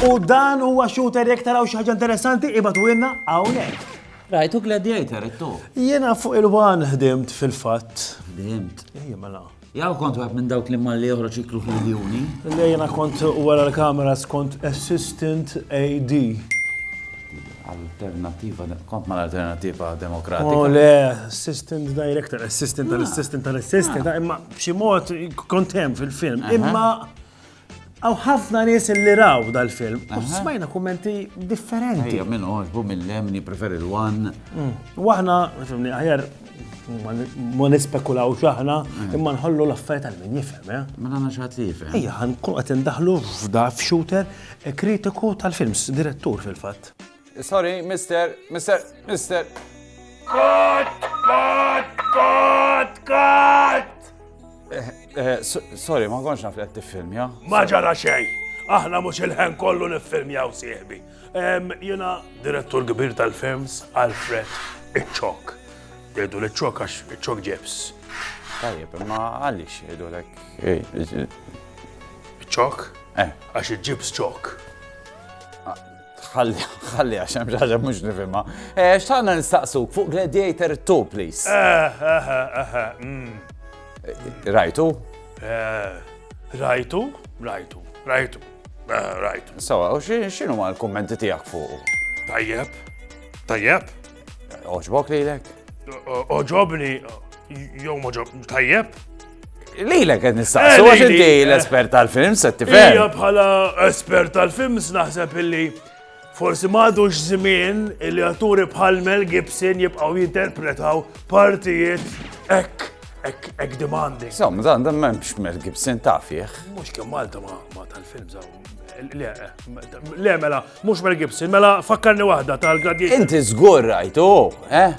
U dan huwa shooter jekk taraw xi ħaġa interessanti ibatu ilna hawnhekk. Rajtu Gladiator, it-tu. Jiena fuq il-wan ħdimt fil-fatt. Ħdimt. Ejja mela. Jaw kont wieħed minn dawk li malli joħroġ iklu fil-juni. Le jena kont wara l-kamera skont assistant AD. Alternativa, kont ma l-alternativa demokratika. Oh le, assistant director, assistant tal-assistant tal-assistant, ah. imma b'xi mod kont hemm fil-film. Imma Għaw ħafna nies li raw dal-film, u smajna kummenti differenti. Ejja, minn oħġbu mill-lemni, preferi l-wan. Mm. U aħna, aħjar, ma nispekulaw xaħna, mm. imma nħollu l-affarijiet għal min jifhem, eh? Ma nagħna xaħat li jifhem. Ejja, ħankun qed indaħlu f'da f'shooter eh, kritiku tal-films, direttur fil-fatt. Sorry, mister, mister, mister. Kot, kot, kot, kot! Eh, eh, sorry, ma konx naf li għed film, ja? Ma ġara xej, aħna mux il-ħen kollu nifilm jaw sieħbi. Jena direttur kbir tal-films Alfred Iċċok. Dedu l-ċok għax iċċok ġebs. Tajjeb, ma għalix jgħidu l-ek. Iċċok? Eh. Għax iġibs ċok. Ħalli, ħalli, għax hemm ġaġa mhux nifhimha. Eh, x'tagħna nistaqsuk fuq Gladiator 2, please. Eh, eh, eh, eh mm. eh, Rajtu? Rajtu, rajtu, rajtu, rajtu. Sawa, u x'inhu ma l-kummenti tiegħek fuq? Tajjeb, tajjeb. Oġbok lilek? Oġobni, jew moġob, tajjeb? Lilek għed nistaqsu, għax inti l-espert tal-film, se tifhem. Ija bħala espert tal-film, naħseb illi forsi madux żmien illi atturi bħal Mel Gibson jibqgħu jinterpretaw partijiet ek ek, ek demanding. Sam, dan dan memx Mel Gibson tafieħ. Mux kem Malta ma, ma tal-film zaw. Le, eh, le, mela, Mhux Mel Gibson, mela fakkarni waħda tal-Gladiator. Inti żgur rajtu, eh?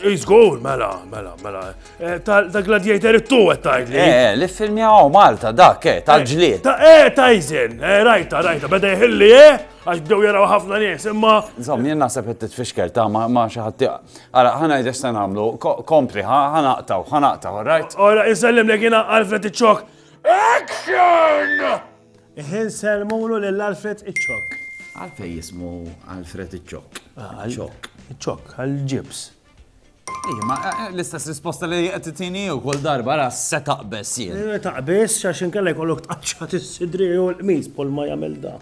Iżgur, mela, mela, mela. Eh, Tal-Gladiator it-tu qed tgħidli. Eh, eh, li filmi għaw Malta dak, eh, tal-ġlied. Ta' eh tajżin, eh rajta, rajta, beda jħilli eh, għax bdew jaraw ħafna nies, imma. Zom, jien naħseb qed titfixkel ta' ma xi ħadd. Ara, ħana jdex se nagħmlu, kompri, ħanaqtaw, ħanaqtaw, rajt? Ora, insellem li jiena għalfet iċ-ċok. Action! Ħin sellmulu lil Alfred iċ-Ċokk. Għalfejn jismu Alfred iċ-Ċokk? Ċokk. Iċ-Ċokk, għall-ġibs. Ma l-istess risposta li qed titini u kull darba ra se taqbes jien. Eh, taqbes għax inkella jkollok tqaċċa tis-sidri u l-qmis pol ma jagħmel da.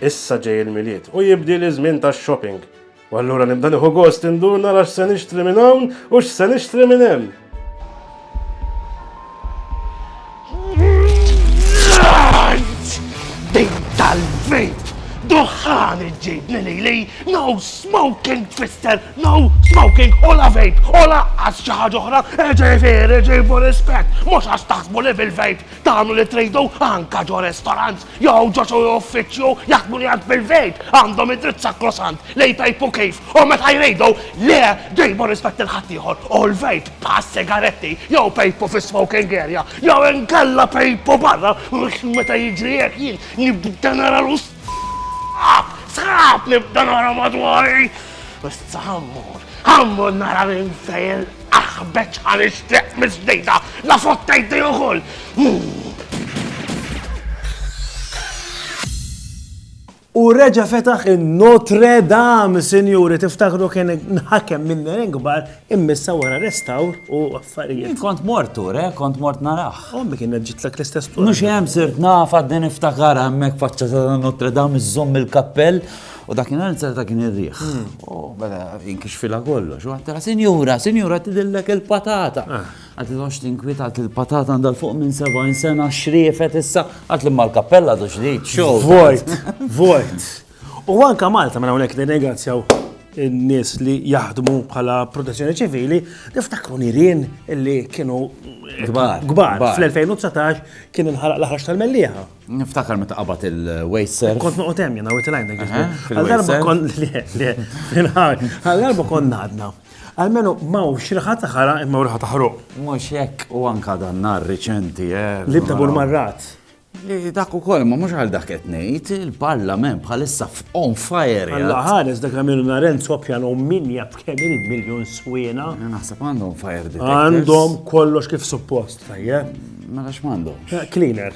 Issa ġej il-milied u jibdi l-iżmin tax-shopping. U allura nibda nieħu gost indur nara x'se nixtri minn hawn u x'se nixtri minn hemm. Din tal-vejt! Duħħan iġġibni li li, no smoking twister, no smoking, ola vejt, ola għas xaħġa oħra, eġej fer, eġej for rispet, mux għax taħsbu li fil-vejt, tamlu li trejdu anka ġo restaurants, Jew ġo xi uffiċċju jaħdmu li għand fil-vejt għandhom id-dritt sakrosant li jpejpu kif u meta jridu. Le, ġejbu rispett lil ħaddieħor u l-vejp bħas-sigaretti jew pejpu fis-smoking area jew inkella pejpu barra għax meta jiġri hekk jien nibda nara l-sħab, sħab nibda nara madwari. Issa ħa mmur, ħa mmur nara minn fejn Aħ b'hekk ħa nixtieq mill-ġdida, la fottejtni ukoll! U reġa fetaħ il-Notre Dame, sinjuri, tiftakru kien nħakem minn kbar immissa wara restawr u affarijiet. Kont mort tur, eh, kont mort naraħ. Ommi kien ġitlek l-istess tur. Mux jem sirt naf għadden iftakar għammek faċċa ta' Notre Dame iżżomm il-kappell U dakinhar inzar ta' kien ir-riħ. U bada jinkixfilha kollox. U għattela, sinjura, sinjura, tidillek il-patata. Ah. Għat il-għox tinkwita għat il-patata għandha fuq minn 70 sena xriefet issa għat li mal-kappella du xriet xow. Vojt, vojt. U għanka Malta minn mela hawnhekk nirringrazzjaw in-nies li jaħdmu bħala protezzjoni ċivili, niftakru nirien li kienu gbar. Gbar. Fl-2019 kien inħaraq l-ħarġ tal-mellieħa. Niftakar meta qabad il-waist surf. Kont noqgħod hemm jiena within line Għal-darba kon le, le, fil-ħar. Għal-darba kon nadna. Għalmenu maw xirħa taħara imma rħa taħruq. Mhux hekk u anka dan nar riċenti. Eh, Li bda bur marrat. Dak u koll, ma mux għal dak etnejt, il-parlament bħalissa on fire. Għalla ħares dak għamilu naren sopjan u min jab kemm il-miljon swena. Naħseb għandhom fire detectors. Għandhom kollox kif suppost, tajjeb. Ma għax mandom. Cleaner.